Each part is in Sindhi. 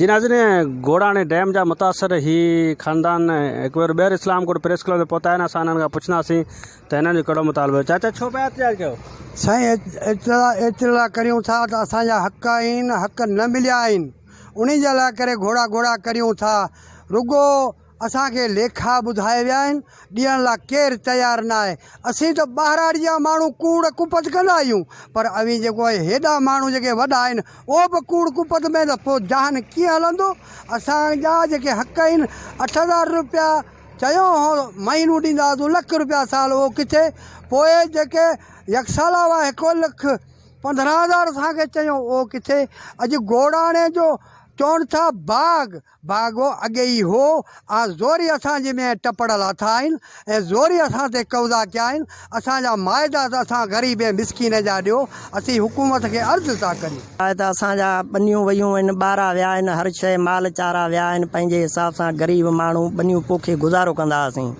جنازي ۾ گوڙاڻي ڊيم جا متاثر هي خاندان هڪ ڀيرو ٻيهر اسلام ڪوٽ پريس ڪلب تي پهتا آهن اسان هنن کان پڇنداسين ته هنن جو ڪهڙو مطالبو آهي چاچا ڇو پيا احتجاج ڪيو. سائين اطلاع اطلاع ڪريون ٿا ته اسان جا حق آهن حق نه مليا آهن انهي جي لاء ڪري گهوڙا گهوڙا ڪريون ٿا رڳو اسان کي ليکا ٻڌائي ويا آهن، ڏيڻ لا ڪير تيار ناهي. اسين ته ٻهراڙي جا ماڻهو ڪوڙ ڪپت ڪندا آهيون، پر اوهين جيڪو اهي هيڏا ماڻهو جيڪي وڏا آهن، اهو به ڪوڙ ڪپت ۾ ته پوء جهان ڪيئن هلندو؟ اسان جا جيڪي حق آهن، اٺ هزار روپيا چيو هو مهينو ڏينداسون، لک روپيا سال اهو ڪٿي؟ پوء جيڪي يڪسالا هئا هڪ لک پندرهن هزار اسان کي چيو اهو ڪٿي؟ اڄ گوڙاڻي جو چون ٿا باغ، باغو اڳي ئي هو، آء زوري اسان جي ۾ ٽپڙ لاٿا آهن ۽ زوري اسان تي قبضا ڪيا آهن، اسان جا معاهدا ته اسان غريب ۽ مسڪين جا ڏيو، اسين حڪومت کي عرض ٿا ڪريون. آء ته اسان جا ٻنيون ويون آهن، ٻارا ويا آهن، هر شيء مال چارا ويا آهن، پنهنجي حساب سان غريب ماڻهو ٻنيون پوکي گذارو ڪندا هئاسين،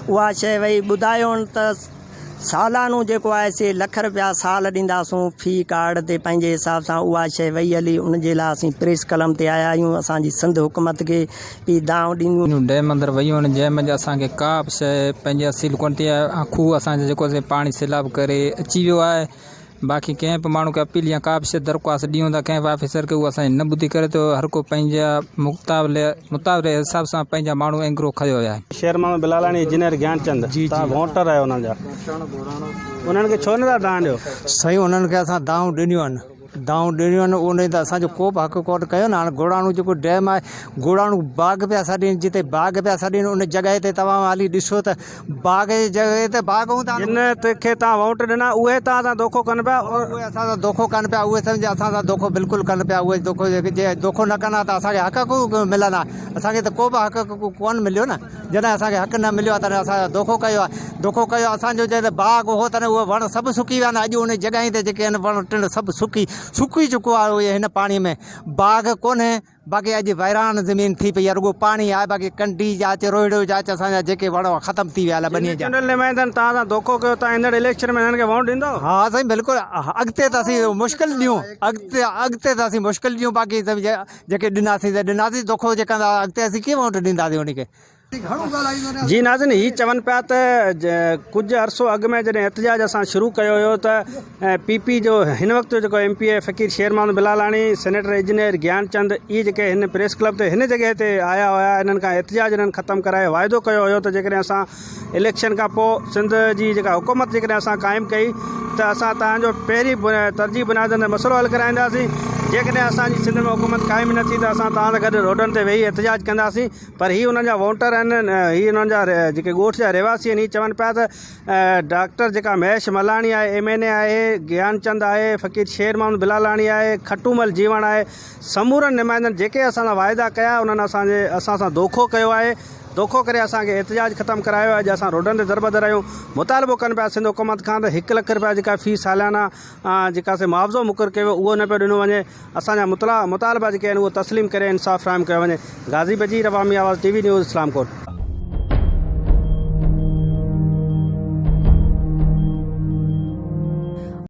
اها شيء وئي ٻڌايون ته. سالانو جيڪو آهي سي لک رپيا سال ڏينداسون في ڪارڊ تي پنهنجي حساب سان اها شيء وئي هلي ان جي لاء اسين پريس قلم تي آيا آهيون اسان جي سنڌ حڪومت کي پي دانهون ڏينديون اهڙيون ڊيم اندر ويون آهن جنهن منجهه اسان کي ڪا به شيء پنهنجي اصيل ڪونه ٿي آهي ۽ کوهه اسان جي جيڪو سي پاڻي سيلاب ڪري اچي ويو آهي باقي ڪنهن به ماڻهو کي اپيل يا ڪا به شيء درخواست ڏيون ٿا ڪنهن به آفيسر کي اهو اسان جي نه ٻڌي ڪري ٿو هر ڪو پنهنجي مطالعي مطالعي حساب سان پنهنجا ماڻهو اينگرو کنيو ويا آهن. شير محمد بلالاڻي انجنيئر گيان چند توهان ووٽر آهيو انهن جا انهن کي ڇو نٿا دانهن ڏيو. سائين انهن کي اسان دانهون ڏنيون آهن دانهون ڏنيون آهن انهن ته اسان جو ڪو به حق ڪونه کنيو نه هاڻي گوڙاڻو جيڪو ڊيم آهي گوڙاڻو باغ پيا سڏين جتي باغ پيا سڏين ان جڳهه تي توهان هلي ڏسو ته باغ جي جڳهه تي باغ هوندا آهن. جن کي توهان ووٽ ڏنا، اهي توهان سان دوکو ڪن پيا. اهي اسان سان دوکو ڪن پيا. اهي سمجهه اسان سان دوکو بلڪل ڪن پيا. اهي دوکو جي دوکو نه ڪن ها ته اسان کي حق ڪيون ملن ها. اسان کي ته ڪو به حق ڪون مليو نه. جڏهن اسان کي حق نه مليو آهي تڏهن اسان سان دوکو ڪيو آهي. دوکو ڪيو اسان جو جتي باغ هو تڏهن اهي وڻ سڀ سڪي ويا آهن. اڄ انهي جڳهين تي جيڪي آهن وڻ ٽڻ سڀ سڪي سڪي چڪو آهي. اهي هن پاڻي ۾ باغ ڪونهي. باقي اڄ ويران زمين ٿي پئي آهي رڳو پاڻي آهي باقي ڪنڊي جا اچ روهڙو جا اچ اسان جا جيڪي وڻ هئا ختم ٿي ويا هليا ٻني جا. جنرل نمائندن توهان سان ڌوڪو ڪيو توهان ايندڙ اليڪشن ۾ هنن کي ووٽ ڏيندؤ؟ ها سائين بلڪل اڳتي ته اسين مشڪل ڏيون اڳتي اڳتي ته اسين مشڪل ڏيون باقي جيڪي ڏناسين ته ڏناسين ڌوڪو جي ڪندا اڳتي اسين ڪيئن ووٽ ڏينداسين انهن کي. جي ناظرين هي چون پيا ته ڪجهه عرصو اڳ ۾ جڏهن احتجاج اسان شروع ڪيو هيو ته پي پي جو هن وقت جو جيڪو M P A Faqir Sher Muhammad Bilalani senator engineer Gyan Chand اهي جيڪي هن پريس ڪلب تي هن جڳهه تي آيا هيا انهن کان احتجاج انهن ختم ڪرائي واعدو ڪيو هيو ته جيڪڏهن اسان اليڪشن کان پوء سنڌ جي جيڪا حڪومت جيڪڏهن اسان قائم ڪئي ته اسان تهان جو پهرين ترجيح بنيادن تي مسئلو حل ڪرائينداسين جيڪڏهن اسان جي سنڌ ۾ حڪومت قائم نه ٿي ته اسان تهان سان گڏ روڊن تي ويهي احتجاج ڪنداسين پر هي انهن جا وونٽر آهن هي انهن جا جيڪي ڳوٺ جا رهواسي آهن هي چون پيا ته ڊاڪٽر جيڪا مهيش ملاڻي آهي ايم اين اي آهي گيان چند آهي فقير شير محمد بلالاڻي آهي کٽومل جيوڻ آهي سمورن نمائندن جيڪي اسان سان واعدا ڪيا انهن اسان جي اسان سان دوکو ڪيو آهي دوکو ڪري اسان کي احتجاج ختم ڪرايو اڄ اسان روڊن تي دربدر آهيون مطالبو ڪن پيا سنڌ حڪومت کان ته هڪ لک رپيا جيڪا في ساليانه جيڪا سي معاوضو مقرر ڪيو ويو اهو نه پيو ڏنو وڃي اسان جا مطلع مطالبا جيڪي آهن اهو تسليم ڪري انصاف فراهم ڪيو وڃي غازي Bajeer Awami Awaz T V news Islam ڪوٽ.